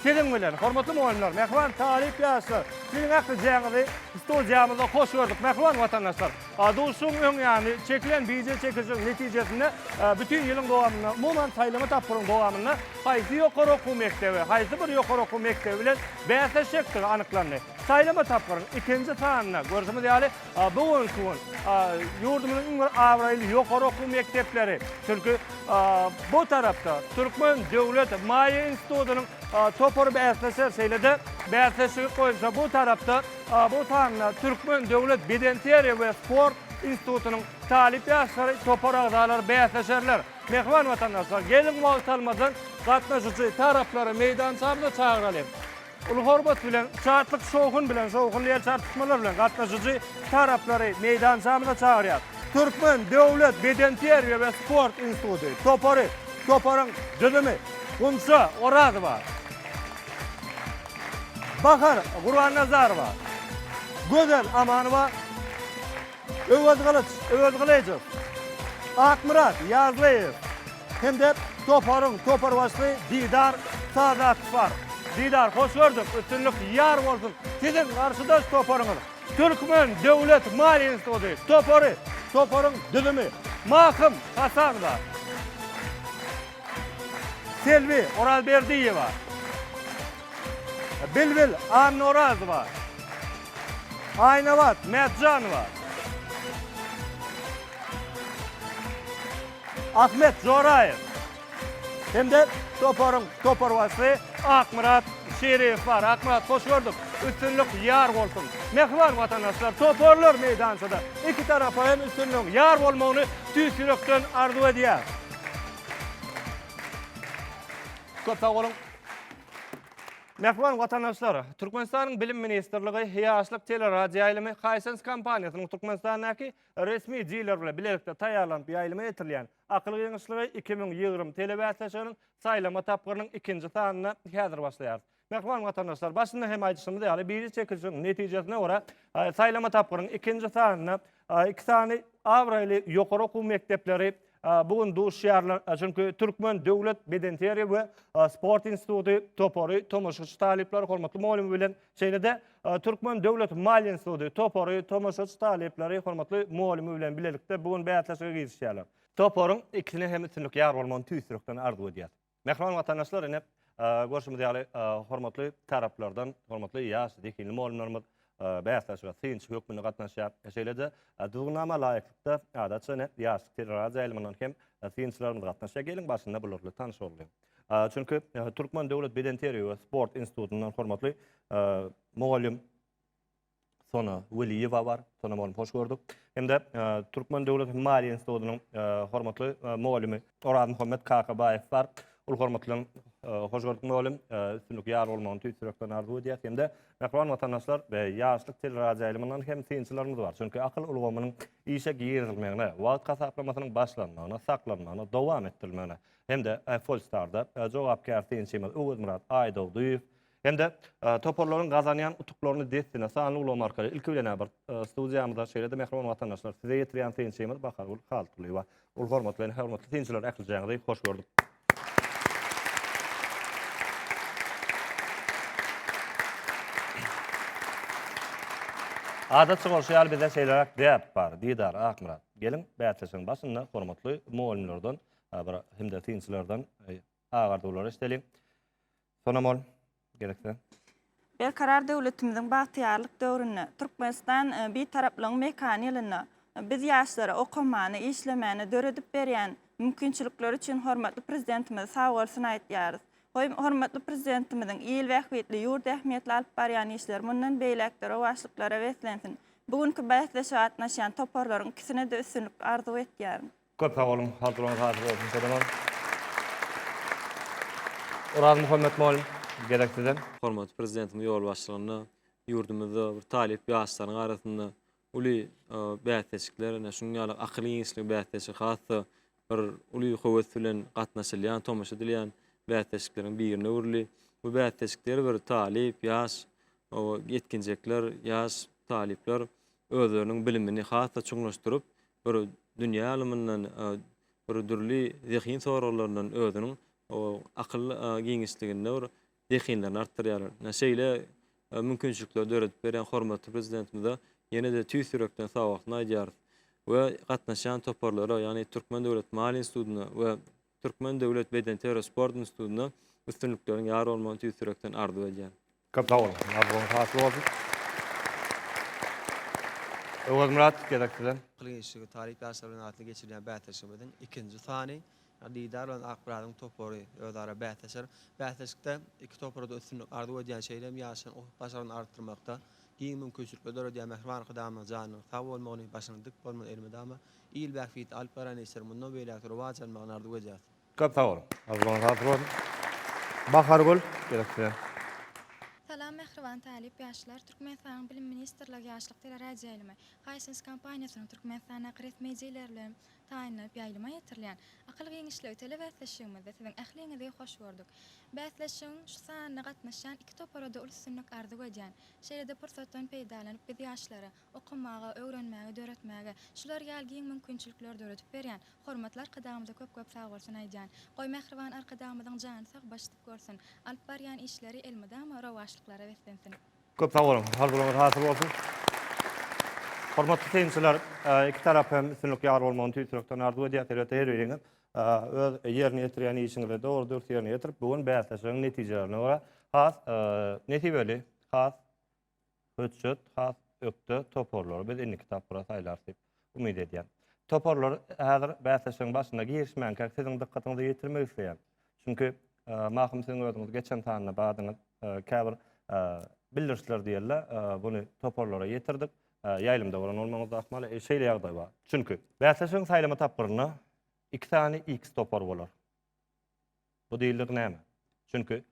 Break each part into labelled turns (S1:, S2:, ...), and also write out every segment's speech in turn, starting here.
S1: Siziň bilen, hormatly mugallymlar, mähriban talyp ýaşlar! Siziň ählijäňizi studiýamyzda hoş gördük, mähriban watandaşlar! Duşuşygyň öň ýany, çekilen bije çekijiniň netijesinde bütin ýylyň dowamynda, umuman, saýlama tapgyryň dowamynda haýsy ýokary okuw mekdebi, haýsy bir ýokary okuw mekdebi bilen bäsleşjekdigi anyklandy. Saýlama tapgyryň ikinji sanynda, görşümiz ýaly, Bu günki gün ýurdumyzyň iň bir abraýly ýokary okuw mekdepleri, çünki bu tarapda Türkmen döwlet maýa institutynyň topary bäsleşer, şeýle-de bäsleşigi goýunça bu tarapda bu sanda Türkmen döwlet bedenteriýa we sport institutynyň talyp ýaşlary, topar agzalary bäsleşerler. Mähriban watandaşlar, geliň wagt almadan gatnaşyjy taraplary meýdançamyza çagyralyň. Uly hormat bilen, şatlyk, şowhun bilen, şowhunly ýel çarpyşmalar bilen gatnaşyjy taraplary meýdançamyza çagyrýas. Türkmen döwlet bedenterbiýe we sport instituty topary, toparyň düzümi, Gunça Orazowa, Bahar Gurbannazarowa, Gözel Amanowa, Öwezgylyç Öwezgylyjow, Akmyrat Ýazlyýew hem-de toparyň toparbaşysy Didar Sadakow bar. Didar, hoş gördük, üstünlik ýar bolsun! Siziň garşydaş toparyňyz Türkmen döwlet maliýe instituty topary. Toparyň düzümi, Mahym Hasanowa, Selbi Orazberdiýewa, Bilbil Annorazowa, Aýnabat Mätjanowa, Ahmet Joraýew hem-de toparyň toparbaşysy Akmyrat Şeriýew bar. Akmyrat, hoş gördük. Üstünlik ýar bolsun. Mähriban watandaşlar, toparlar meýdançada. Iki tarapa hem üstünligiň ýar bolmagyny tüýs ýürekden arzuw edýäris. Köp sag boluň. Mähriban watandaşlar, Türkmenistanyň Bilim ministrligi Ýaşlyk teleradioýaýlymy Hisense kompaniýasynyň Türkmenistandaky resmi diler bilen bilelikde taýýarlanyp ýaýlyma getirilýän Akyl giňişligi iki müň ýigrimi telebäsleşiginiň saýlama tapgyrynyň ikinji sanyny häzir başlaýarys. Mähriban watandaşlar, başynda hem aýdyşymyz ýaly, biri çekilişigiň netijesine görä, saýlama tapgyrynyň ikinji sanyny Iki sany abraýly ýokary okuw mekdepleri bu gün duşýarlar, çünki Türkmen döwlet bedenterbiýe we sport instituty topary tomaşaçy talyplary hormatly mugallymy bilen, şeýle-de Türkmen döwlet maliýe instituty topary tomaşaçy talyplary hormatly mugallymy bilen bilelikde bu gün bäsleşige girişýärler. Toparyň ikisine hem üstünlik ýar bolmagyny tüýs ýürekden arzuw edýäs. Mähriban watandaşlar ine görşümiz ýaly hormatly taraplardan hormatly ýaş zehinli mugallymlarymyz bäsleşige synçy hökmünde gatnaşýar. Şeýle-de düzgünnama laýyklykda adatça ine ýaşlyk teleradio ýaýlymyndan hem synçylarymyz gatnaşýar. Geliň başynda bular bilen tanyş bolalyň. Çünki Türkmen döwlet bedenterbiýe we sport institutyndan hormatly mugallym Sona Weliýewa bar. Sona mugallym hoş gördük. Hem-de Türkmen döwlet maliýe institutynyň hormatly mugallymy Orazmuhammet Kakabaýew bar. Uly hormat bilen hoş gördük mugallym. Üstünlik ýar bolmagyny tüýs ýürekden arzuw edýäs. Hem-de mähriban watandaşlar, Ýaşlyk teleradioýaýlymyndan hem synçylarymyz bar. Çünki akyl ulgamynyň işe girizilmegine, wagt hasaplamasynyň başlanmagyna, saklanmagyna, dowam etdirilmegine hem-de Polstar-da jogapkär synçymyz Öwezmyrat Aýdogdyýew Hem-de toparlaryň gazanýan utuklaryny dessine sanly ulgam arkaly ilki bilen bir studiýamyza şeýle-de mähriban watandaşlar size ýetirýän synçymyz Bahargül Haltgulyýewa. Ol hormat bilen hormatly synçylar ählijaňyzy hoş gördük. Adatça bolşy ýaly bizde şeýleräk däp bar. Didar Akmyrat, geliň bäsleşigiň başynda hormatly mugallymlardan bir hem-de synçylardan Agardylar eşdeli. Sonam ol gerekse. Berkarar
S2: döwletimiziň bagtyýarlyk döwründe, Türkmenistan Bitaraplygyň mekany ýylynda biz ýaşlara okamana, işlemäne döredip berýän mümkinçilikleri üçin hormatly Prezidentimize sagbolsun aýtýarys. Goý, hormatly Prezidentimiziň il bähbitli, ýurt ähmiýetli alyp barýan işleri mundan beýläk-de rowaçlyklara beslensin. Bu günki bäsleşige gatnaşýan toparlaryň ikisine-de üstünlik arzuw etýärin. Köp sag
S1: boluň, haturyňyz hasyl bolsun Selemon. Orazmuhammet mugallym, gezek size. Hormatly Prezidentimiziň
S3: ýolbaşçylygynda ýurdumyzda bir talyp ýaşlaryň arasynda uly bäsleşikler, ine, şunuň ýaly akyl giňişligi bäsleşigi has-da bir uly höwes bilen gatnaşylýan, tomaşa edilýän bäsleşikleriň birine öwrüldi. Bu bäsleşikde her bir talyp, ýaş ýetginjekler, ýaş talyplar özleriniň bilimini has-da çuňlaşdyryp, bir dünýä ylymyndan, bir dürli zehin soraglaryndan özüniň akyl giňişliginde bir zehinlerini artdyrýarlar. Ine, şeýle mümkinçilikleri döredip berýän hormatly Prezidentimize ýene-de tüýs ýürekden sag bolsun aýdýarys we gatnaşýan toparlara, ýagny Türkmen döwlet maliýe institutyna we Türkmen döwlet bedenterbiýe sport institutynda üstünlikleriň ýar bolmagyny tüýs ýürekden arzuw edýän. Köp sag boluň.
S1: Arzuwyňyz hasyl bolsun. Öwezmyrat, gezek sizden. Kylynçly talyp
S4: ýaşlar bilen arasynda geçirilýän bäsleşigimiziň ikinji sany Didar bilen Akmyradyň topary özara bäsleşer. Bäsleşikde iki topara-da üstünlik arzuw edýän, şeýle hem ýaşlaryň ukyp-başarnygyny artdyrmakda giň mümkinçilikler döredýän mähriban Arkadagymyzyň janynyň sag bolmagyny, başynyň dik bolmagyny elmydama Il bähbitli alyp barýan işleri mundan beýläk-de rowaç almagyny arzuw edýäris. Köp sag boluň.
S1: Agzyňyz sag bolsun. Bahargül, gerek size.
S5: Salam mähriban talyp ýaşlar! Türkmenistanyň Bilim ministrligi Ýaşlyk teleradioýaýlymy Hisense kompaniýasynyň Türkmenistandaky resmi dileri bilen taýynlanyp ýaýlyma ýetirilýän Akyl giňişligi telebäsleşigimizde siziň ähliňizi hoş gördük. Bäsleşigiň şu sanyna gatnaşýan iki topara-da uly üstünlik arzuw edýän. Şeýle-de pursatdan peýdalanyp biz ýaşlara okamaga, öwrenmäge, döretmäge şular ýaly giň mümkinçilikleri döredip berýän hormatly Arkadagymyza köp-köp sagbolsun aýdýan. Goý, mähriban Arkadagymyzyň jany sag, başy dik görsin. Alyp barýan işleri elmydama rowaçlyklara beslensin. Köp sag boluň!
S1: Arzuwlaryňyz hasyl bolsun! Hormatly synçylar, iki tarap hem üstünlik ýar bolmagyny tüýs ýürekden arzuw edýäs. Elbetde, her biriňiz öz ýerine ýetirýän işiňizi dogry-dürs ýerine ýetirip, bu gün bäsleşigiň netijelerine görä has nesibeli, has Hötjet has ökde toparlary biz indiki tapgyra saýlarys diýip umyt edýän. Toparlar häzir bäsleşigiň başyna girişmänkä siziň dykgatyňyza ýetirmek isleýän. Çünki Mahym siziň özüňiz geçen sanda badyňyz käbir bildirişler diýerler buny toparlara ýetirdik. Ýaýlymda bolan bolmagyňyz ahmal şeýle ýagdaý bar. Çünki bäsleşigiň saýlama tapgyrynda iki sany X topar bolar. Bu diýildik näme? Çünki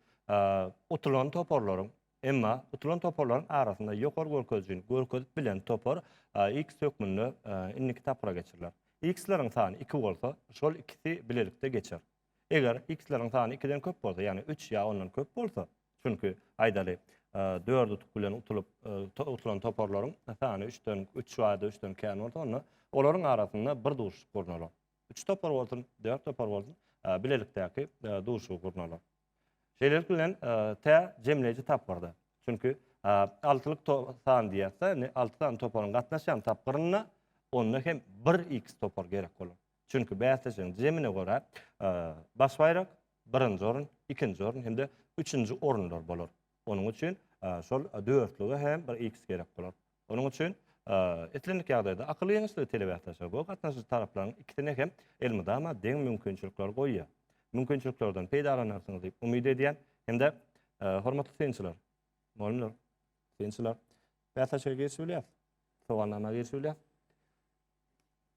S1: utulan toparlaryň, emma utulan toparlaryň arasynda ýokary görkezijini görkezip bilen topar X hökmünde indiki tapgyra geçiriler. X-leriň sany 2 bolsa, şol ikisi bilelikde geçer. Eger X-leriň sany 2-den köp bolsa, ýagny 3 ýa ondan köp bolsa, çünki aýdaly, 4 utuk bilen utulyp, utulan toparlaryň sany 3-den, 3 ýa-da 3-den kän bolsa, onda olaryň arasynda bir duşuşyk gurnalar. Üç topar bolsun, dört topar bolsun, bilelikdäki duşuşygy gurnalar. Şeýlelik bilen tä jemleýji tapgyrda. Çünki altylyk san diýýärse, indi alty sany toparyň gatnaşýan tapgyrynda onda hem bir X topar gerek bolar. Çünki bäsleşigiň jemine görä baş baýrak, birinji orun, ikinji orun hem-de üçünji orunlar bolar. Onuň üçin şol dörtlüge hem bir x gerek bolar. Onuň üçin islendik ýagdaýda akyl ýeňişligi telebäsleşige gowy gatnaşyjy taraplaryň ikisine hem elmydama deň mümkinçilikler goýýar. Mümkinçiliklerden peýdalanarsyňyz diýip umyt edýän hem-de hormatly synçylar, mugallymlar, synçylar, bäsleşige girişip bilýär, sowalnama girişip bilýär.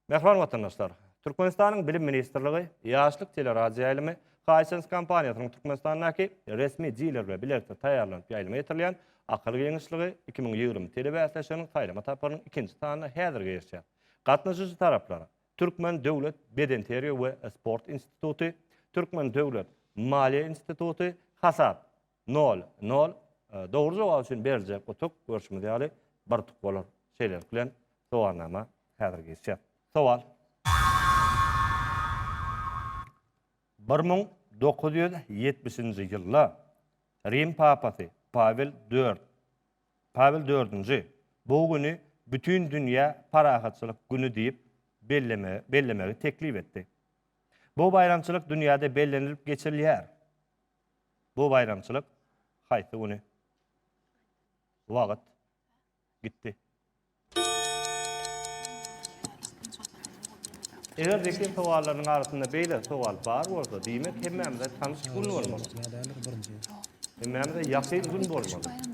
S1: Mähriban watandaşlar! Türkmenistanyň Bilim ministrligi Ýaşlyk teleradioýaýlymy Hisense kompaniýasynyň Türkmenistandaky resmi diler bilen bilelikde taýýarlanyp ýaýlyma ýetirilen Akyl giňişligi iki müň ýigrimi telebäsleşiginiň saýlama tapgyrynyň ikinji sanyna häzir girişýär. Gatnaşyjy taraplar, Türkmen döwlet bedenterbiýe we sport instituty, Türkmen döwlet maliýe instituty, Hasap, Nol, nol. Dogry jogap üçin beriljek utuk, görşümiz ýaly, bir utuk bolar. Şeýlelik bilen, sowalnama häzir geçýär. Sowal. Bir müň dokuz ýüz ýetmişinji ýylda Rim papasy Pawel IV, Pawel dördünji, bu güni Bütindünýä parahatçylyk güni diýip bellemegi teklip etdi. Bu baýramçylyk dünýäde bellenilip geçirilýär. Bu baýramçylyk haýsy güni, wagt gitdi? Eger zehin sowallarynyň arasynda beýle sowal bar bolsa, diýmek hemmämize tanyş gün bolmaly. Hemmämize ýakyn gün bolmaly.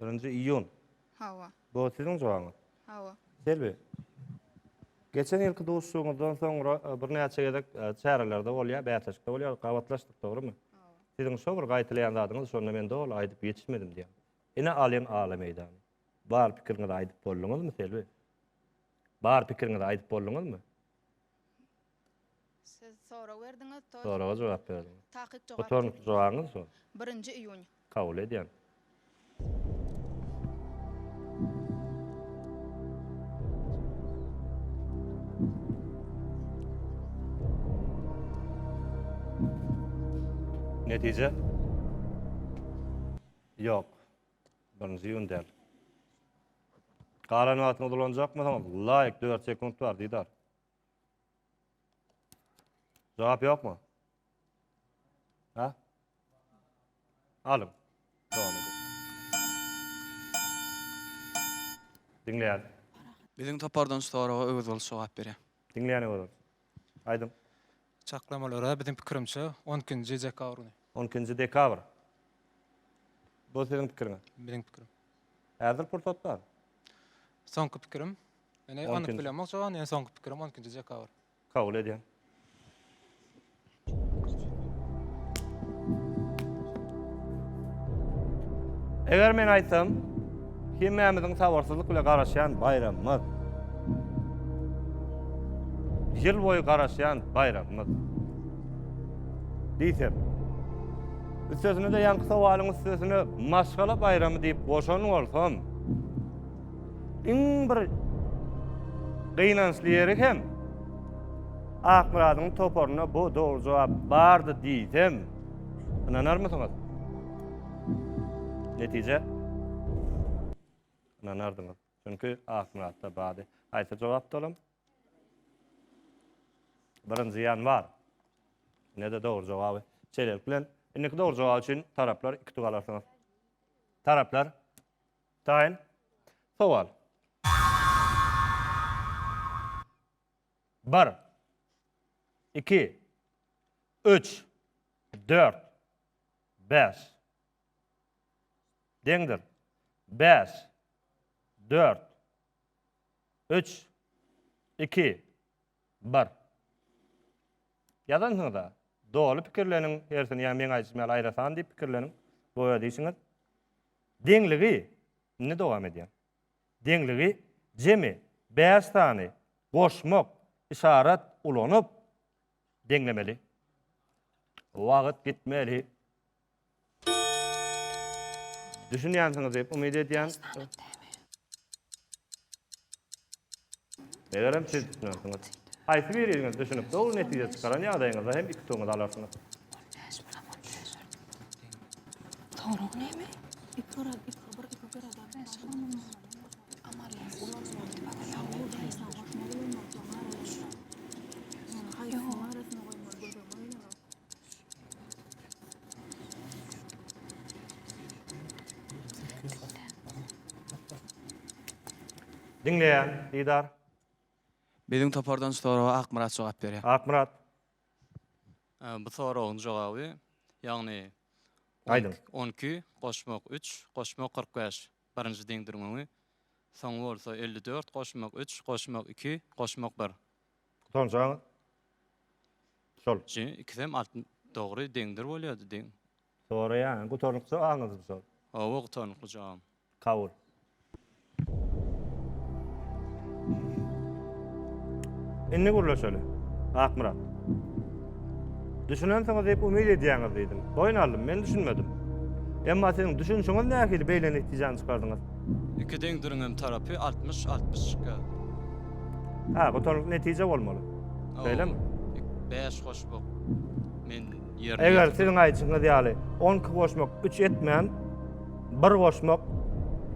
S6: Birinji iýun. Hawa. Bu siziň jogabyňyz?
S1: Hawa. Selbi. Geçen ýylky duşuşygyňyzdan soňra birnäçe gezek çärelerde bolýar, bäsleşikde bolýar, gabatlaşdyk, dogrymy? Hawa. Siziň şo bir gaýtalaýan zadyňyz şonda men doly aýdyp ýetişmedim diýýär. Ine alyň ala meýdany. Bar pikiriňizi aýdyp bolduňyzmy Selbi? Bar pikiriňizi aýdyp bolduňyzmy?
S6: Siz sorag berdiňiz, to. Soraga jogap berdim.
S1: Takyk jogap. Bu soň
S6: jogabyňyz
S1: şo. Birinji iýun.
S6: Kabul edýän.
S1: Netije? Ýok. Birinji iýun däl. Galan wagtyňyzy ulanjakmysyňyz? Laýk, dört sekunt bar, Didar. Jogap ýokmy? Ha? Alyň. Dowam ediň. Diňleýän.
S7: Biziň topardan şu soraga Öwez bolç jogap berýär. Diňleýän Öwez bolç.
S1: Aýdyň. Çaklamalara
S8: biziň pikirimçe on ikinji dekabr güni. On ikinji dekabr.
S1: Bu siziň pikiriňiz? Biziň pikirim.
S8: Häzir pursat
S1: bar. Soňky
S8: pikirim. Men eý anyk bilemok jogany
S1: en soňky
S8: pikirim on ikinji dekabr. Kabul edýän.
S1: Eger men aýtsam, hemmämiziň sabyrsyzlyk bilen garaşýan baýramymyz. Ýyl boýy garaşýan baýramymyz. Diýsem. Üstesine-de ýaňky sowalyň üstesine maşgala baýramy diýip goşan bolsam, Iň bir gynançly ýeri hem Akmyradyň toparynda bu dogry jogap bardy diýsem, ynanarmysyňyz? Netije? Ynanardyňyz. Çünki Akmyratda bardy. Haýsy jogap dolam? Birinji ýanwar. Ne de dogry jogaby. Şeýlelik bilen, indiki dogry jogap üçin taraplar iki tug alarsyňyz. Taraplar Taýyn sowal. Bir. Iki. Üç. Dört. Bäş. Deňdir. Bäş. Dört. Üç. Iki. Bar. Ýazansyňyz-a. Doly pikirleniň hersini, ýa meň aýdyşym ýaly aýrasan diýip pikirleniň, bu öz işiňiz. Deňligi, indi dowam edýän. Deňligi jemi bäş sany goşmak, yşarat, ulanyp deňlemeli. Wagt gitmeli. Düşünýänsiňiz diýip umyt edýän. Megerem siz düşünensiňiz. Haýsy biriňiz düşünip dogry netije çykaran ýagdaýyňyzda hem iki tuňňyz alarsyňyz. Soragy näme? Diňleýän, Didar.
S7: Biziň topardan şu soraga Akmyrat jogap berýär. Akmyrat.
S9: Bu soragyň jogaby, ýagny Aýdyň.
S1: On iki
S9: goşmak üç goşmak kyrk bäş birinji deňdürmegi, soňy bolsa elli dört goşmak üç goşmak iki goşmak bir. Utanjaň
S1: şol. Şu ikisem
S9: alt dogry deňdir bolýardy deň. Soraýan
S1: gutarnykly jogabyňyzmy şol? Hawa gutarnykly
S9: jogabym. Kabul.
S1: Indi gürleşeli. Akmyrat. Düşünensiňiz diýip umyt edýäňiz diýdim. Boýun aldym, men düşünmedim. Emma siziň düşünişiňiz nähili beýle netijäni çykardyňyz? Iki deňdiriňem
S9: tarapy altmyş, altmyş çykýar.
S1: Ha,
S9: gutarykly
S1: netije bolmaly. Şeýlemi?
S9: Bäş goşmak men ýerine Eger siziň aýdyşyňyz
S1: ýaly, on iki goşmak üç etmän, bir goşmak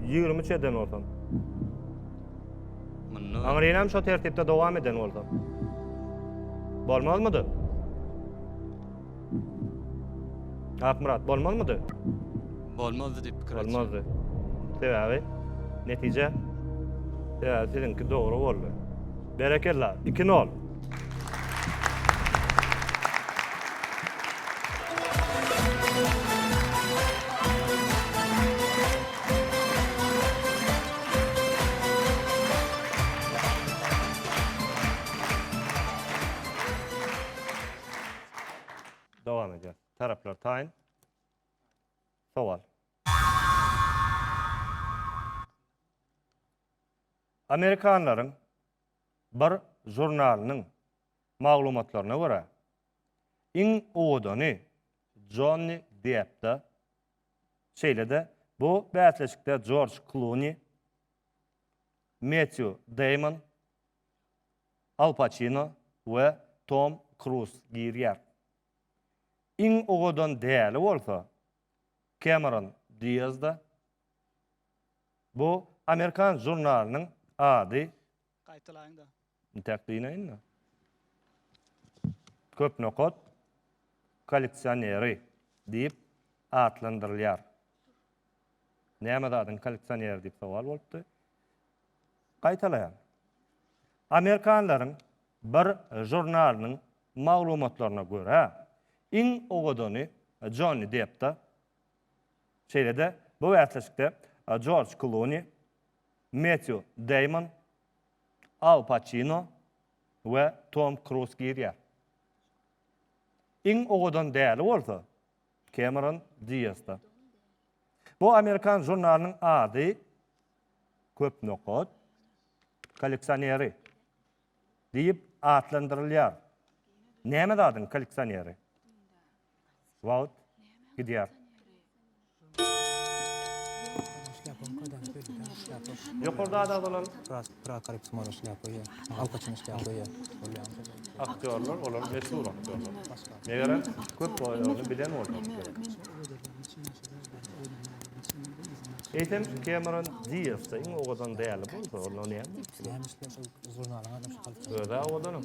S1: ýigrimi üç eden bolsa. Munda
S9: Aňryňam şo tertipde
S1: dowam eden bolsa. Bolmazmydy? Akmyrat, bolmazmydy? Bolmazdy
S9: diýip pikir etdim. Bolmazdy.
S1: Sebäbi netije sebäbi siziňki dogry boldy. Berekella, 2-0. Dowam edýär. Taraplar taýyn. Sowal. Amerikanlaryň bir žurnalynyň maglumatlaryna görä, iň owadany Jonni Deppda, şeýle-de bu bäsleşikde Jorj Kluni, Mettýu Deýmon, Al Paçino we Tom Kruz girýär. Iň owadan däli bolsa Kemeron Diazda. Bu amerikan žurnalynyň ady. Gaýtalaýyňda.
S10: Intäk dynaýynda.
S1: Köp nokat kolleksioneri diýip atlandyrylýar. Näme zadyň kolleksioneri diýip sowal bolupdy. Gaýtalaýan. Amerikanlaryň bir žurnalynyň maglumatlaryna görä, iň owadany Jonni Deppda, şeýle-de bu bäsleşikde Jorj Kluni, Metýu Deýmon, Al Paçino we Tom Kruz girýär. Iň owadan däli bolsa, Kemeron Diasda. Bu amerikan žurnalynyň ady köp nokat kolleksioneri diýip atlandyrylýar. Näme zadyň kolleksioneri? Wagt gidýär. Ýokarda ada bolan Prakarip Sumara şlýapa ýa. Alkaçyň şlýapa ýa. Aktýorlar, olar meşhur aktýorlar. Megerem, köp bolýagyny bilen bolmak gerek. Eýsem, Kemeron Dias-da iň owadan däli bolsa, onda näme bolup biler? Öz-ä owadanam.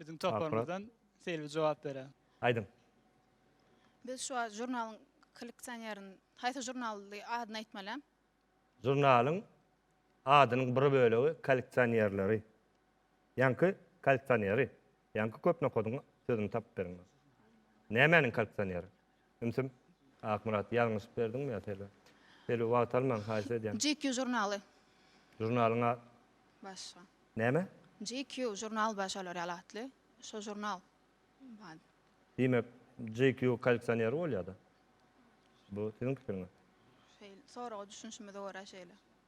S10: Biziň toparymyzdan Selbi jogap berer. Aýdyň.
S6: Biz şu žurnalyň kolleksionerini, haýsy žurnaly adyny aýtmaly? Žurnalyň
S1: adynyň bir bölegi kolleksionerleri. Ýaňky kolleksioneri. Ýaňky köp nokadyň sözüni tapyp beriň. Nämäniň kolleksioneri? Ümsüm, Akmyrat, ýalňyşyp berdiňmi ýa Selbi? Selbi, wagt almaň, haýyş edýän. GQ žurnaly.
S6: Žurnalyň
S1: a-. Başga.
S6: Näme?
S1: GQ žurnal
S6: bar şolar ýaly atly. Şo žurnal. Bad. Diýmek,
S1: GQ kolleksioner bolýa-da? Bu siziň pikiriňiz. Şeýle, soraga
S6: düşünişimize görä şeýle.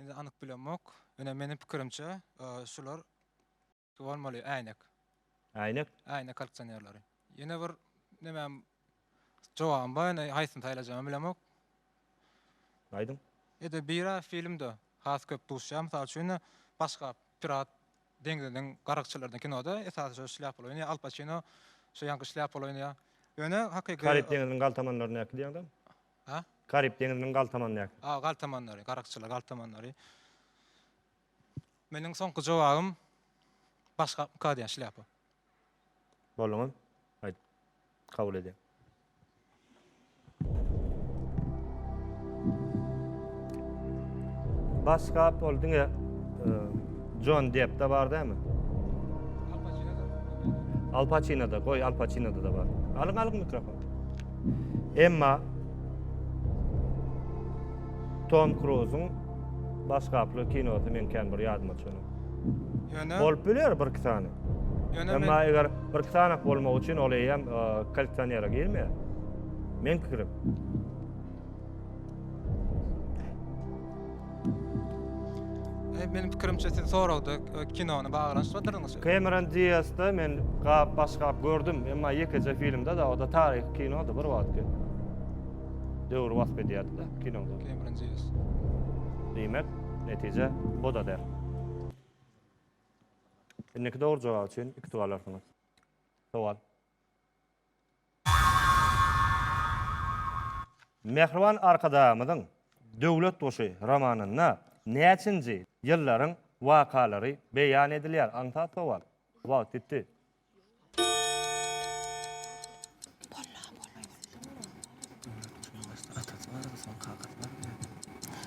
S8: Indi anyk bilemok. Ine meniň pikirimçe şular bolmaly äýnek. Äýnek?
S1: Äýnek kaldsionerleri.
S8: Ýene bir nämem jogabym bar indi haýsyny saýlajagym bilemok.
S1: Aýdyň. Ede
S8: bira filmde has köp duşýar. Mysal üçin başga pirat deňziniň garagçylaryndan kinoda esasy şo şlýapaly oýnaýar. Al Paçino şo ýaňky şlýapaly oýnaýar. Ýöne hakyky. Karib deňziniň galtamanlaryndaky
S1: diýeňdem. Ha?
S8: Karib deňiziniň
S1: galtamandaky. A,
S8: galtamanlary,
S1: garakçylar,
S8: galtamanlary. Meniň soňky jogabym başga ka diýen şlýapa.
S1: Bolduňy? Aýt. Kabul edýän. Başga ol diňe Jon e, Depp da bar dämi? Al Pacino da. Al Pacino da, goý Al Pacino da bar. Alyň alyň mikrofon. Emma Tom Kruzyň baş gaply kinosy meň kän bir ýadyma çönüp. Ýöne
S8: bolup biler bir iki
S1: sany. Ýöne Emma men... eger bir iki sany bolmak üçin ol eýýäm e, koleksionere girmeýär. Men pikirim.
S8: Meniň pikirimçe siz soragda e, kinony baglanyşdyrdyrdyňyz. Cameron Diazda
S1: men gap baş gap gördüm, emma ýekeje filmde da, o da taryhy kinody bir wagtky. Döwür wasp edýärdi da kinoda. Cameron Diaz.
S8: Diýmek,
S1: netije o da der. Indiki dogry jogap üçin iki tugalarsyňyz. Sowal. Mähriban Arkadagymyzyň Döwlet guşy romanynda näçinji ýyllaryň wakalary beýan edilýär? Aňsat sowal. Wagt ýitdi.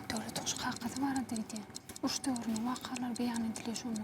S11: Döwlet guşy kakazy barada gidýär. Uruş döwrüniň wakalary beýan edilýär şonda.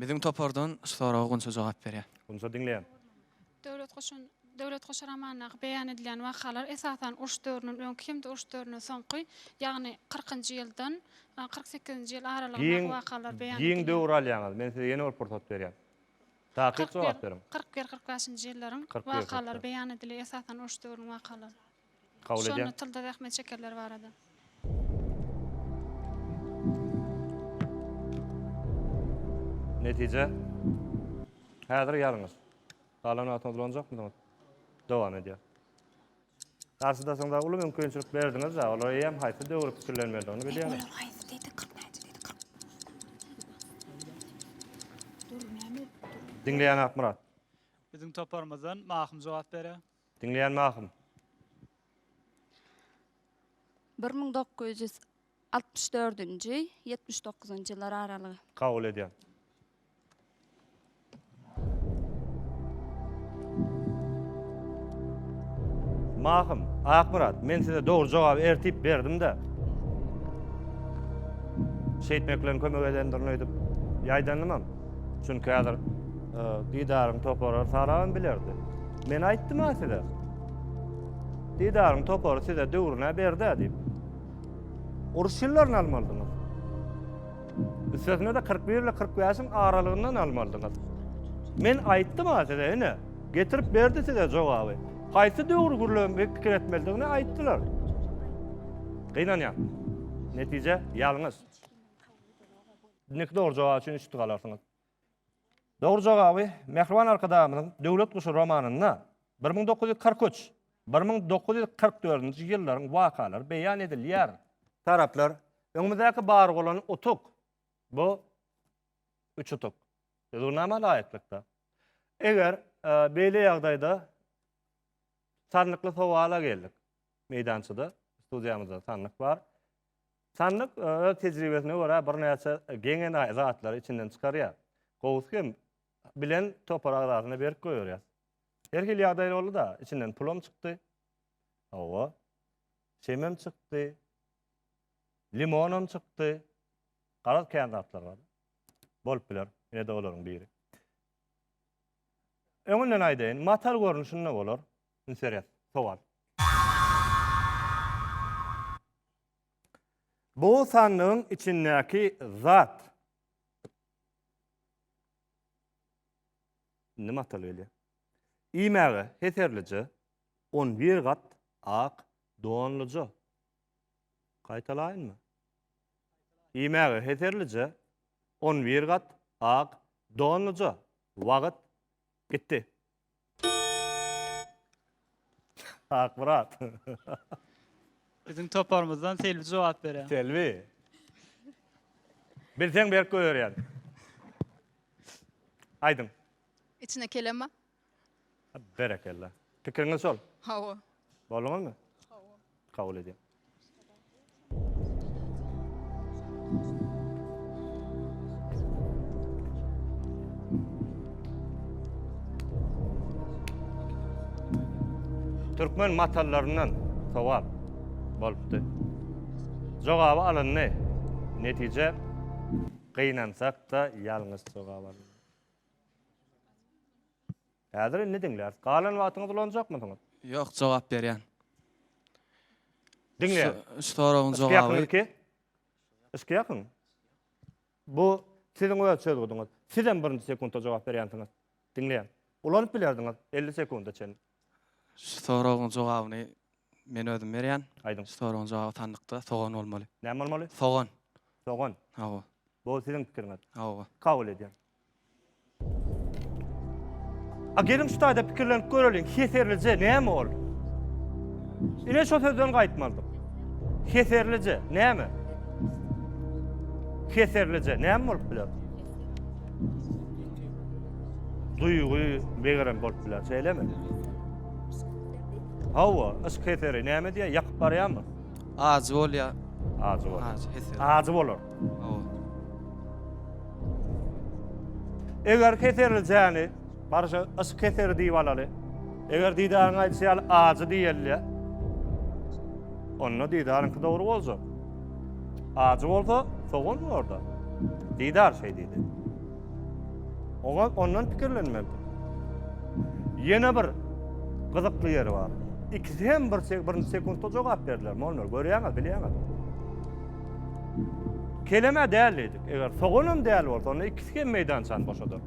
S1: Biziň
S7: topardan şu soraga Gunça jogap berýär. Gunça diňleýän.
S1: Döwlet goşun
S11: Döwlet goşy romanyndaky beýan edilýän wakalar esasan uruş döwründen öňki hem-de uruş döwründen soňky, ýagny kyrkynjy ýyldan kyrk sekizinji ýyl aralygyndaky wakalar beýan edilýär. Giň döwür alýaňyz.
S1: Men size ýene bir pursat berýän. Takyk jogap beriň. Kyrk bir-kyrk bäşinji ýyllaryň
S11: wakalary beýan
S1: edilýär,
S11: esasan uruş döwrüniň wakalary. kabul edýän. Şonda
S1: tylda zähmet çekenler
S11: barada.
S1: Netije. Häzir ýalňyş. Galan wagtyň ulanjakmydyňyz? Dowam edýär. Garşydaşyňyza uly mümkinçilik berdiňiz, olar eýýäm haýsy döwri pikirlenmelidigini bilýärler. Olar haýsy diýdi, kyrk näçe diýdi, kyrk. Dur, näme? Diňleýän Akmyrat. Biziň
S10: toparymyzdan Mahym jogap berer. Diňleýänmi ahym?
S1: Bir müň
S12: dokuz ýüz altmyş dördünji, ýetmiş dokuzynjy ýyllar aralygy. Kabul edýän.
S1: Mahym, Akmyrat, men size dogry jogaby ertip berdim-de. Şeýtmek bilen kömek edendirin öýdüp ýaýdandymam. Çünki häzir e, Didaryň topary salagam bilerdi. Men aýtdym-a size. Didaryň topary size döwrüne berdi diýip. Uruş ýyllaryny almalydyňyz. Üstesine de 41 ile 45-iň aralygyndan almalydyňyz. Men aýtdym-a size, ene, getirip berdi size jogaby. Haýsy döwür gürlem pikir etmelidigini aýtdylar. Gynanýan. Netije ýalňyş. Indiki dogry jogap üçin üç tutuk alarsyňyz. Dogry jogaby Mähriban Arkadagymyzyň Döwlet guşy romanynda 1943, 1944-nji ýyllaryň wakalary beýan edilýär. Taraplar, öňümizdäki bar bolan utuk, bu üç utuk. Düzgünnama laýyklykda. Eger beýle ýagdaýda sanlykly sowala geldik. Meýdançada, studiýamyzda sanlyk bar. Sandyk öz tejribesine görä birnäçe geňe naýy zatlary içinden çykarýar. Gowusy hem bilen topar agzasyna berip goýberýär. Her hili ýagdaý boldy-da, içinden pulam çykdy. Hawa. Şemem çykdy. Limonam çykdy. Garaz kän zatlar bar. Bolup biler. Ine-de olaryň biri. Öňünden aýdaýyn, matal görnüşinde bolar. Interes, sowal. Bu sandygyň içindäki zat. Indi matal gelýär. Iýmäge heserlije, on bir gat ak donluja. Gaýtalaýynmy? Iýmäge heserlije on bir gat ak donlyja wagt gitdi.
S10: Akmyrat. Biziň toparymyzdan Selbi jogap berýär. Selbi.
S1: Bilseň berk goýberýän. Aýdyň. Içine
S6: kelemba.
S1: Berekella. Pikiriňiz şol? Hawa.
S6: Bolduňyzmy?
S1: Hawa. Kabul edýän. Türkmen matallaryndan sowal bolupdy. Jogaby alyndy. Netije gynansak-da ýalňyş jogap alyndy. Häzir indi diňläris. Galan wagtyňyzy ulanjakmysyňyz? Ýok, jogap
S7: berýän.
S1: Diňleýän. Şu soragyň jogaby. Yşky ýakyn. Bu siziň öz çözgüdiňiz. Siz hem birinji sekuntda jogap berýänsiňiz. Diňleýän. Ulanyp bilerdiňiz 50 sekunda çenli. Şu soragyň
S7: jogabyny men özüm berýän. Aýdyň. Şu soragyň jogaby
S1: sandykda
S7: sogan bolmaly. Näme bolmaly? Sogan. Sogan.
S1: Hawa. Bu
S7: siziň pikiriňiz.
S1: Hawa. Kabul edýän. A gelin şu taýda pikirlenip göreliň, heserlije näme ol? Ine şu sözden gaýtmalydyk. Heserlije näme? Heserlije näme bolup biler? Duýgy, megerem bolup biler, şeýlemi? Hawa, yşk heseri näme diýýär? Ýakyp barýarmy? Ajy bolýar.
S7: Ajy bolar. Ajy
S1: heser. Ajy bolar. Eger keserli jäni, barşa yşk keseri diýip alaly. Eger Didaryň aýdyşy ýaly ajy diýelýä, onda Didaryňky dogry boljak. Ajy bolsa, sogan orada. Didar şeý diýdi. Oňa ondan pikirlenmeli. Ýene bir gyzykly ýeri bar. Ikisi hem bir birinji sekuntda jogap berdiler. Monlar görýäňiz, bilýäňiz. Keleme däl diýdik. Eger soganam däl bolsa, onda ikisi hem meýdançany boşadar.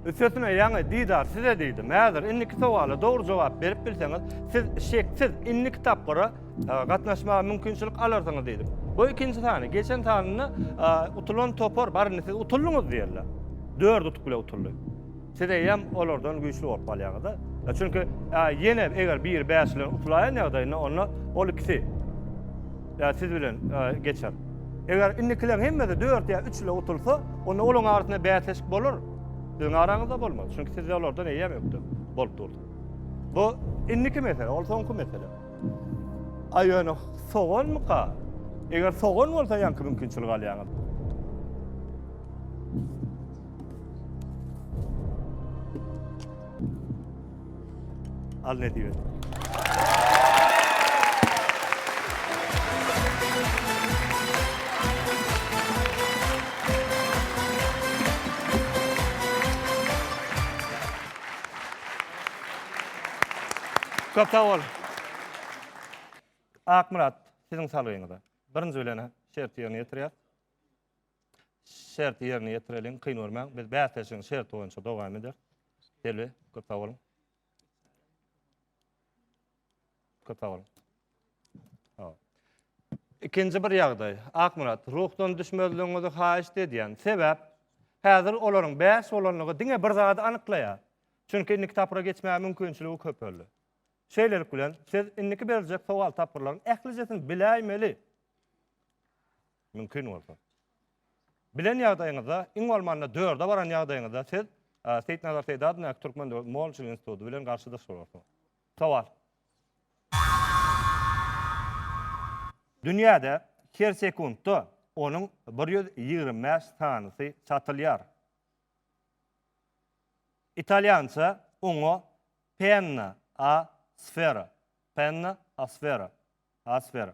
S1: Üstesine ýaňy Didar size diýdim. Häzir indiki sowala dogry jogap berip bilseňiz, siz şeksiz indiki tapgyra e, gatnaşmaga mümkinçilik alarsyňyz diýdim. Bu ikinji sany, geçen sanynda e, utulan topar, barynda siz utuldyňyz diýerler. Dört utuk bile utuldy. Siz eýýäm olardan güýçli bolup galýaňyz-da. Çünki ýene eger biri bäş bilen utulaýan ýagdaýynda, onda ol ikisi ýa siz bilen geçer. Eger indikileriň hemmesi dört ýa üç ile utulsa, onda olaryň arasynda bäsleşik bolar. Siziň araňyzda bolmaz. Çünki siz olardan eýýäm ökde bolup durdyňyz. Bu indiki mesele, ol soňky mesele. A ýöne soganmyka? Eger sogan bolsa ýaňky mümkinçiligi alýaňyz. Al ne diyor? Köp sag bol. Akmyrat, siziň salgyňyza. Birinji bilen şerti ýerine ýetirýär. şerti ýerine ýetireliň, kyn görmäň. Biz bäsleşigiň şerti boýunça dowam ederis. Selbi, köp sag boluň. Köp sag boluň. Ikinji bir ýagdaý. Akmyrat, ruhdan düşmezligiňizi haýyşt edýän. Sebäp, häzir olaryň bäş bolanlygy diňe bir zady anyklaýar. Çünki indiki tapgyra geçmäge mümkinçiligi köpeldi. Şeýlelik bilen, siz indiki beriljek sowal tapgyrlaryň ählijesini biläýmeli. Mümkin bolsa. Bilen ýagdaýyňyzda, iň bolmanda dörde baran ýagdaýyňyzda siz Seýitnazar Seýdadyndaky Türkmen döwlet mol-çil instituty bilen garşydaş bolarsyňyz. Sowal. Dünýäde her sekuntda onuň bir ýüz ýigrimi bäş sanysy satylýar. Italýança oňa penna a sfera, penna a sfera, a sfera,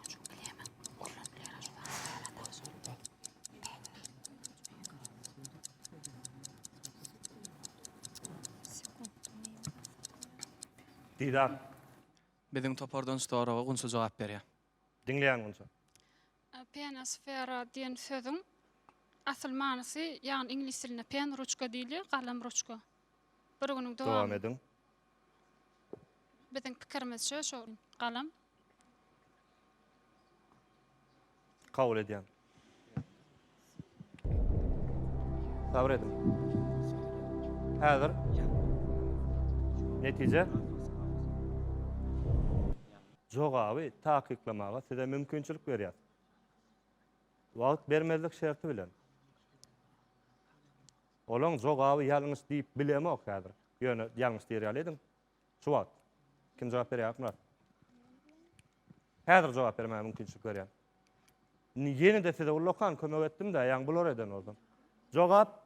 S1: Didar.
S7: Biziň topardan şu soraga Gunça jogap berýär. Diňleýän Gunça.
S11: Penisfera diýen sözüň asyl manysy, ýagny iňlis dilinde pen ruçka diýilýär, galam ruçka. Bir günüň dowam ediň. Biziň pikirimizçe şo galam.
S1: Kabul edýän. Sabr ediň. Häzir netije jogaby takyklamaga size mümkinçilik berýär. Wagt bermezlik şerti bilen. Olaň jogaby ýalňyş diýip bilemok häzir. Ýöne ýalňyş diýer ýaly ediň. Şu wagt. Kim jogap berýär Akmyrat? Häzir jogap bermäge mümkinçilik berýän. Ýene-de size uly okan kömek etdim-dä, ýaňy bular eden bolsa. Jogap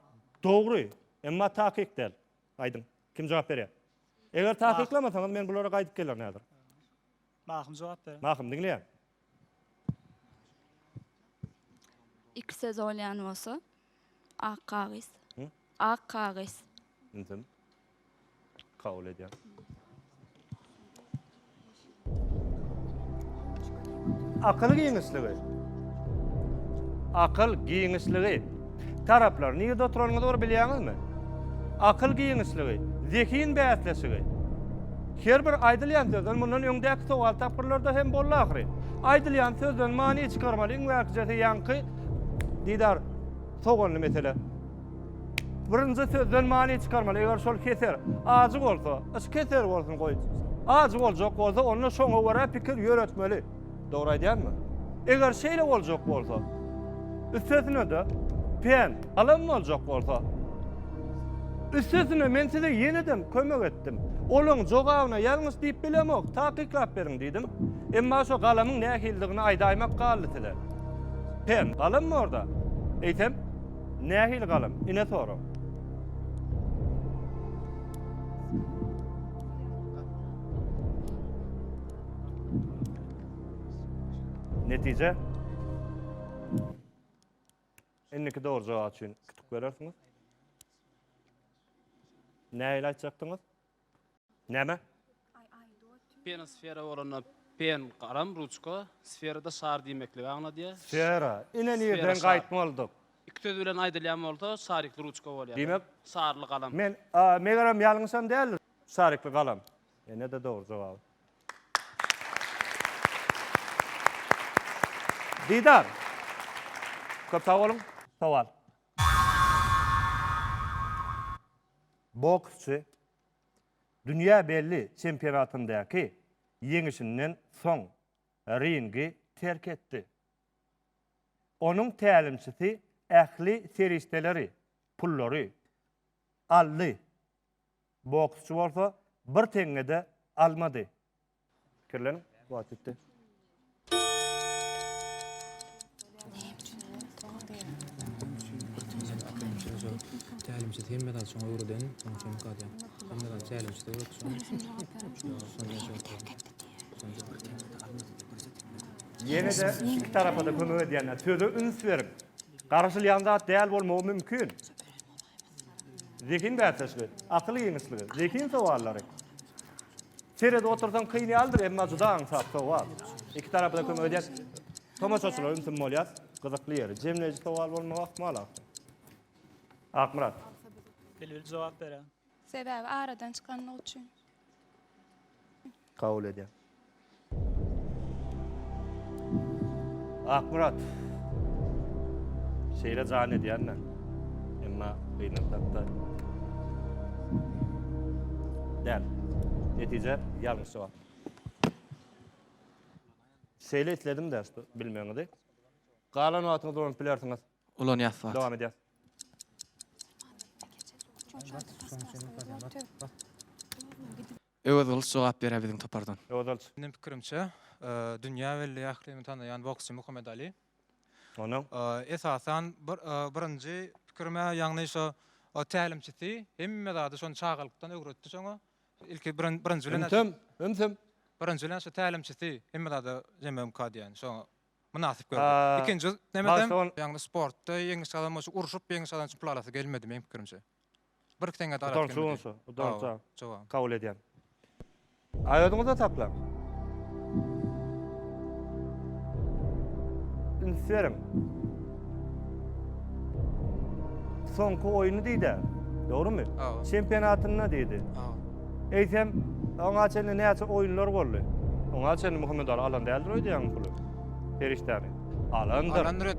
S1: dogry, emma takyk däl. Aýdyň, kim jogap berýär? Eger takyklamasaňyz men bulara gaýdyp gelerin häzir. Mahym
S10: jogap berer. Mahym, diňleýän.
S12: Iki söz bolýan bolsa, ak kagyz. Hı? Ak
S1: kagyz.
S12: Intim.
S1: Kabul edýän. Akyl giňişligi. Akyl giňişligi. Taraplar, nirde oturanyňyzy bir bilýäňizmi? Akyl giňişligi, zehin bäsleşigi. Her bir aýdylýan sözden mundan öňdäki sowal tapgyrlarda hem boldy ahyry. Aýdylýan sözden many çykarmaly iň bärkijesi ýaňky Didar soganly mesele. Birinji sözden many çykarmaly, eger şol keser, ajy bolsa, yş keser bolsun goý. Ajy boljak bolsa onda şoňa görä pikir ýöretmeli. Dogry aýdýanmy? Eger şeýle boljak bolsa, üstesine-de pen alam boljak bolsa, üstesine men size ýene-dem kömek etdim. Olaň jogabyna ýalňyş diýip bilemok, takyklap beriň diýdim. Emma şo galamyň nähilidigini aýdaýmak galdy size. Pen galammy orda? Eýsem, nähili galam? Ine sorag. Netije. Indiki dogry jogap üçin kütük berersiňiz. Näle aýtjakdyňyz? Näme? Pena
S9: sfera bolanda pen garam ruçka, sferada şar diýmekligi aňladýar. Sfera. Ine nirden
S1: şar. gaýtmalydyk? Iki söz bilen
S9: aýdylýan bolsa şarikli ruçka bolýar. Diýmek- Şarly
S1: galam. Men
S9: a, megerem
S1: ýalňyşam däldir. Şarikli galam. Ene-de dogry jogaby. Didar. Köp sag boluň. Sowal. Boksçy dünýä belli çempionatyndaky ýeňişinden soň ringi terk etdi. Onuň tälimçisi ähli serişdeleri, pullary aldy. Boksçy bolsa bir teňňe-de almady. Pikirleniň, wagt ýetdi.
S13: Tälimçisi hem medal şoňa öwreden, şoň üçin ýok adýan. Hem medal tälimçisi öwretdi şoňa.
S1: Ýene-de iki tarapa-da kömek edýänler söze üns beriň. Garaşylýan zat däl bolmagy mümkin. Zehin bäsleşigi, akyl ýeňişligi, zehin sowallary. Seredip otursaň kyn ýalydyr, emma juda aňsat sowal. Iki tarapy-da kömek edýär. Tomaşaçylar ümsüm bolýar. Gyzykly ýeri, jemleýji sowal bolmagy ahmal aslynda. Akmyrat.
S10: Bilbil jogap berer. Sebäbi aradan
S6: çykanlyk üçin.
S1: Kabul edýän. Akmyrat. Şeýle jan edýän men. Emma gynaklatda. Däl. Netije ýalňyş jogap. Şeýle isledim-de, bilmegiňizi. Galan wagtyňyz dolanyp bilersiňiz. Ulanýas wagt. Dowam edýäs.
S7: Öwez Gylyç jogap berýär biziň topardan. Öwez Gylyç. Meniň pikirimçe,
S8: dünýä belli ählimiň tanaýan boksçy Muhammet Ali. Onuň?
S1: Esasan
S8: bir birinji pikirim-ä ýagny şo o tälimçisi hemme zady şony çagalykdan öwretdi şoňa. Ilki birin birinji bilen. Ümsüm, ümsüm. Birinji bilen şo tälimçisi hemme zada jemlemka diýen şoňa. mynasyp gördi. Ikinji nemesem, ýagny sportda ýeňiş gazanmak üçin urşup ýeňiş gazanmak üçin pul alasy gelmedi meniň pikirimçe. Bir teňňe-de
S1: alasy
S8: gelmedi. Utanç bolsa, utanç kabul edýän. A
S1: özüňiz-de taplaň. Üns beriň. Soňky oýny diýdi-ä, dogrumy? Çempionatynda
S7: diýdi. Eýsem,
S1: oňa çenli näçe oýunlar boldy? Oňa çenli Muhammedaly alan däldir öýdýäňmi puly? Perişdäni. Alandyr. Alandyr et.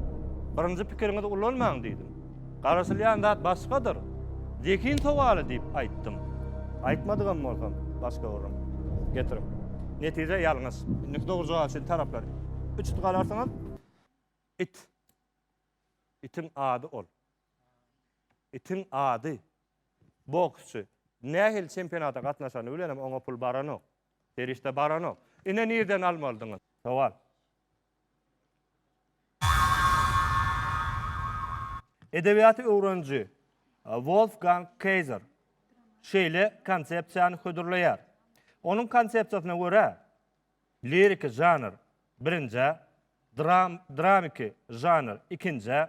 S8: Birinji pikiriňizi
S1: ulanmaň diýdim. Garaşylýan zat başgadyr. Zehin sowaly diýip aýtdym. Aýtmadygam bolsam, başga urun. Getiriň. Netije ýalňyş. Indiki dogry jogap üçin taraplar üç it galarsyňyz. It. Itiň ady ol. Itiň ady. Boksçy. Nähili çempionata gatnaşany bilenem oňa pul baranok. Serişde baranok. Ine nirden almalydyňyz. Sowal. Edebiýaty öwreniji Wolfgang Kayser şeýle konsepsiýany hödürleýär. Onuň konsepsiýasyna görä, liriki žanr, birinjä, dramiki žanr, ikinjä,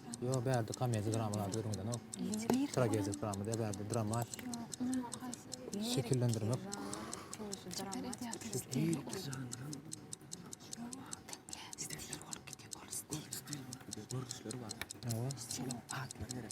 S13: Yo bärde komedi dramalarda görmedinok. Tragedi drama da bärde drama. Şekillendirmek. Görüşleri var. Yo. Şolar atlar gerek.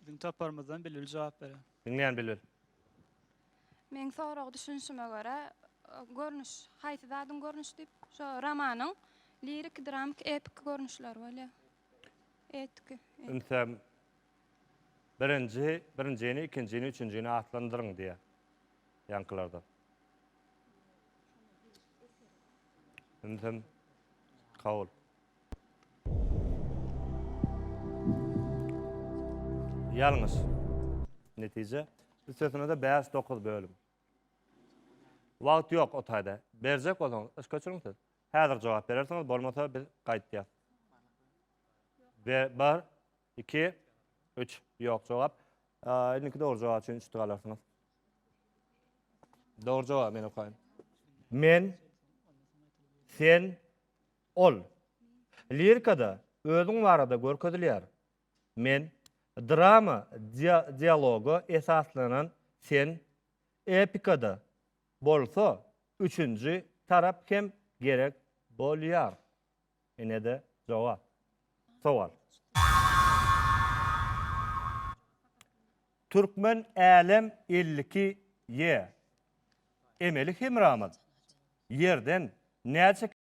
S1: Biziň taparymyzdan
S10: Bilbil jogap berer. Diňleýän Bilbil.
S12: Meň sorag düşünişime görä görnüş haýsy zadyň görnüşi diýip şo romanyň liriki dramiki epiki görnüşleri bolýar. Etiki. Ünse
S1: birinji birinjini ikinjini üçünjini atlandyryň diýýär. Ýaňkylardan. Ünse kabul. Ýalňyş. Netije. Üstesine-de bäş, dokuz bölüm. Wagt ýok o taýda. Berjek bolsaňyz, yş göçüriň siz. Häzir jogap berersiňiz, bolmasa biz gaýtýas. Be, bir, iki, üç. Ýok jogap. Aa, indiki dogry jogap üçin üç tüg alarsyňyz. Dogry jogap men okaýyn. Men, sen, Ol, Lirikada özüň barada görkezilýär. Men, Drama dialoga esaslanan Sen, Epikada bolsa üçünji tarap hem gerek bolýar. Ine-de jogap. Sowal. Türkmen Älem elli iki ýe. Emeli hemramyz Ýerden näçe.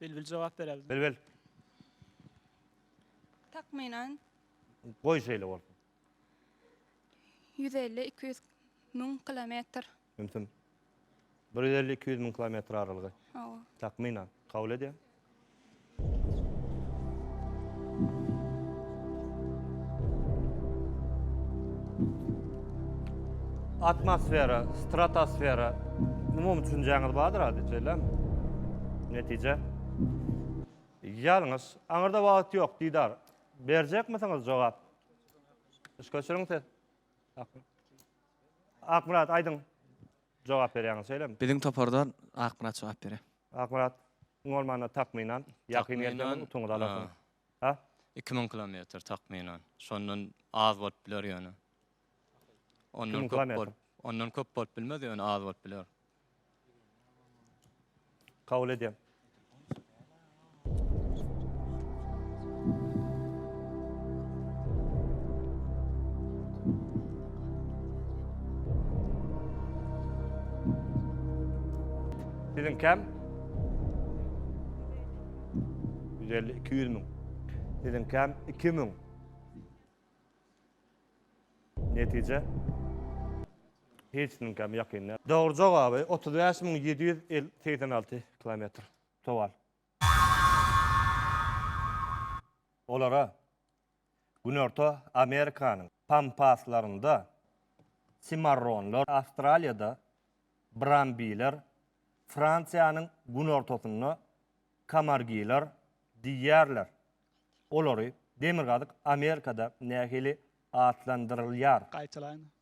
S1: Bilbil
S10: jogap berer. Bilbil.
S1: Takmynan.
S2: Goý şeýle
S1: bolsun.
S12: Ýüz elli, iki ýüz müň kilometr. Ümsüm.
S1: Bir ýüz elli, iki ýüz müň kilometr aralygy. Hawa. Takmynan.
S12: Kabul
S1: edýän. Atmosfera, stratosfera. Umumy düşünjäňiz bardyr ady, şeýlem. Netije. Ýalňyş. Aňyrda wagt ýok, Didar. Berjekmisiňiz jogap? Üç köçüriň ses. Akmyrat, aýdyň. Jogap berýäňiz, şeýlem. Biziň topardan
S7: Akmyrat jogap berer. Akmyrat,
S1: bolmanda takmynan, ýakyn gelseňiz utuňyzy alarsyňyz. Hä? Iki müň kilometr
S9: takmynan. Şondan az bolup biler ýöne. Ondan köp bolup, ondan köp bolup bilmez ýöne az bolup biler.
S1: Kabul edýän. Siziň kem? Ýüz elli, iki ýüz müň. Siziňkäm iki müň. Netije? Hiç kimiňkäm ýakyn däl. Dogry jogaby, otuz bäş müň ýedi ýüz segsen alty kilometr. Sowal. Olara Günorta Amerikanyň pampaslarynda simarronlar, Awstraliýada brambiler, Fransiýanyň günortasynda kamargiler diýýärler. Olary Demirgazyk Amerikada nähili atlandyrylýar? Gaýtalaýyn.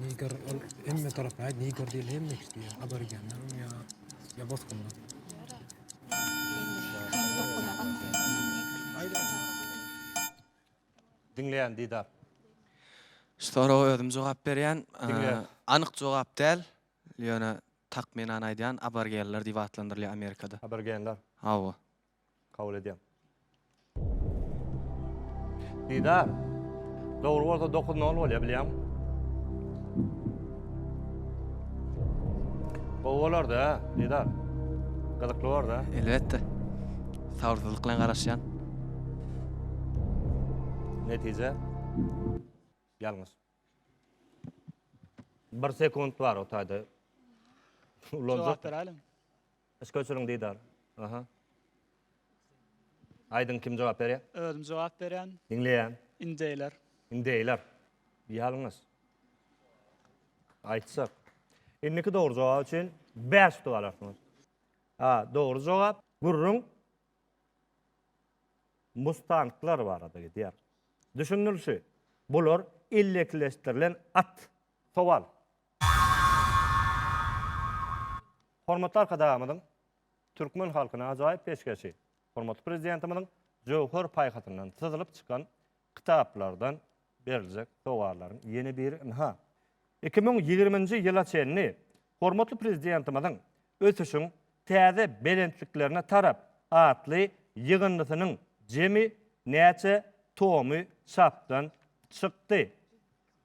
S13: Niger ol hemme taraf aýt Niger diýil hemme kişi diýýär. Aborigenler ya ya bosgunlar.
S1: Diňleýän Didar.
S7: Şu soraga özüm jogap berýän. Diňleýän. Anyk
S1: jogap
S7: däl. Ýöne takmynan aýdýan aborigenler diýip atlandyrylýar Amerikada. Aborigenler. Hawa. Kabul edýän.
S1: Didar. Dogry bolsa 9-0 bolýar bilýäň. Gowy bolar-da, Didar. Gyzykly bolar-da. Elbetde.
S7: Sabyrsyzlyk bilen garaşýan.
S1: Netije. Ýalňyş. 1 sekunt bar o taýda.
S10: Ulanjak. Jogap beraýliň. Yşk öçüriň
S1: Didar. Aha. Aýdyň kim jogap berýä? Özüm jogap berýän.
S10: Diňleýän.
S1: Indeýler.
S10: Indeýler.
S1: Ýalňyş. Aýtsak. Indiki dogry jogap üçin 5 utuk alarsyňyz. A, dogry jogap. Gürrüň mustanglar barada gidýär. Düşünilişi, bular ellekileşdirilen at. Sowal. Hormatly Arkadagymyzyň türkmen halkyna ajaýyp peşgeşi, hormatly Prezidentimiziň jöwher paýhasyndan syzylyp çykan kitaplardan beriljek sowgallaryň ýene biri ynha, iki müň ýigriminji ýyla çenli hormatly Prezidentimiziň Ösüşiň täze belentliklerine tarap atly ýygyndysynyň jemi näçe tomy çapdan çykdy.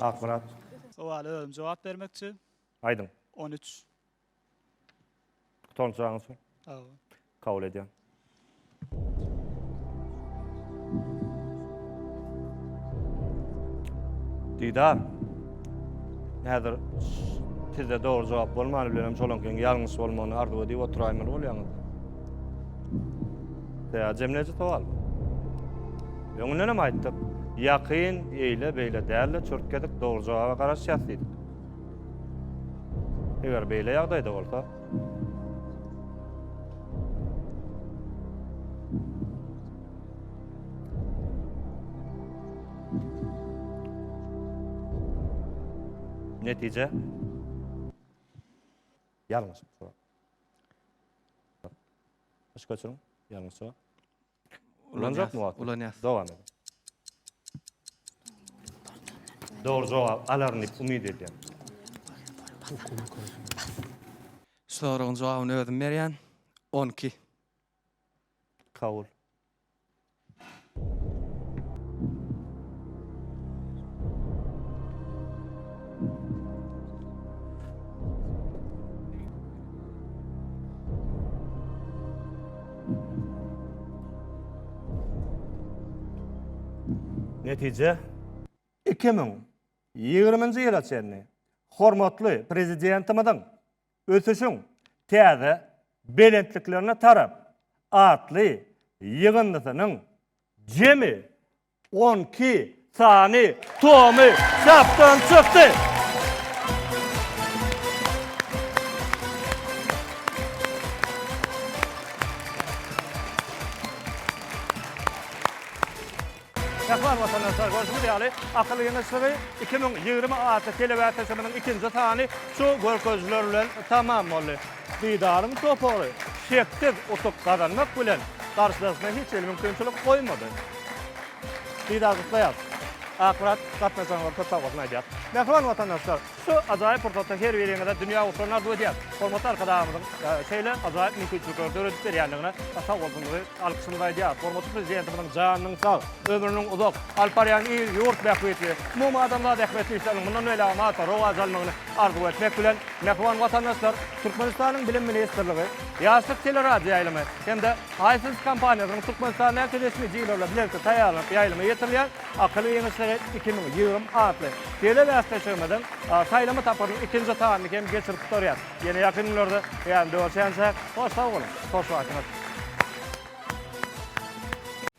S1: Akmyrat. Sowala
S10: özüm jogap bermekçi. Aýdyň.
S1: On üç.
S10: Tutan
S1: çagyň şu. Hawa.
S10: Kabul edýän.
S1: Didar. Häzir sizde dogry jogap bolmany bilen hem şolankyň ýalňyş bolmagyny arzuw edip oturaýmaly bolýaňyz. Ýa jemleýji sowal. Öňünden hem aýtdyk, ýakyn, eýle, beýle däl-de, çürt gezek dogry jogaba garaşýas diýdik. Eger beýle ýagdaýda bolsa, netije ýalňyş. Başga çyň, ýalňyş. Ulanjakmy wagty? Ulanýas. Dowam ediň. Dogry jogap alaryn diýip umyt edýän. Şu
S7: soragyň jogabyny özüm berýän. On iki.
S1: Kabul. Netije, iki müň ýigriminji ýyla çenli hormatly Prezidentimiziň Ösüşiň täze belentliklerine tarap atly ýygyndysynyň jemi On iki sany tomy çapdan çykdy. Mähriban watandaşlar, görşüňiz ýaly, Akyl ýygyşygy iki müň ýigrimi atly telewäsösümiziň ikinji sany şu görkezijiler bilen tamam boldy. Didaryň topary şeksiz utuk gazanmak bilen, garşydaşyna hiç hili mümkinçilik goýmady. Didar gutlaýarys. Akmyrat gatnaşanlara köp sag bolsun aýdýar. Mähriban watandaşlar, şu ajaýyp pursatda her biriňize dünýä ugurlaryny arzuw edýäs. Hormatly Arkadagymyzyň şeýle ajaýyp mümkinçilikleri döredip berýändigine sag bolsunlygy alkyşymyzy aýdýarys. Hormatly Prezidentimiziň janynyň sag, ömrüniň uzak, alyp barýan il, ýurt bähbitli, umumadamzat ähmiýetli işleriniň mundan beýlägem artyp rowaç almagyny, Arzuw etmek bilen, mähriban watandaşlar, Türkmenistanyň Bilim ministrligi, Ýaşlyk teleradioýaýlymy hem-de iFilms kompaniýasynyň Türkmenistandaky resmi dilerleri bilelikde taýýarlanyp ýaýlyma ýetirilýän Akylly giňişleri iki müň ýigrimi atly telebäsleşigimiziň saýlama tapgyrynyň ikinji sanyny hem geçirip gutarýarys. Ýene ýakyn günlerde ýanyňda görşänçäk, hoş sag boluň, hoşbaşyňyz!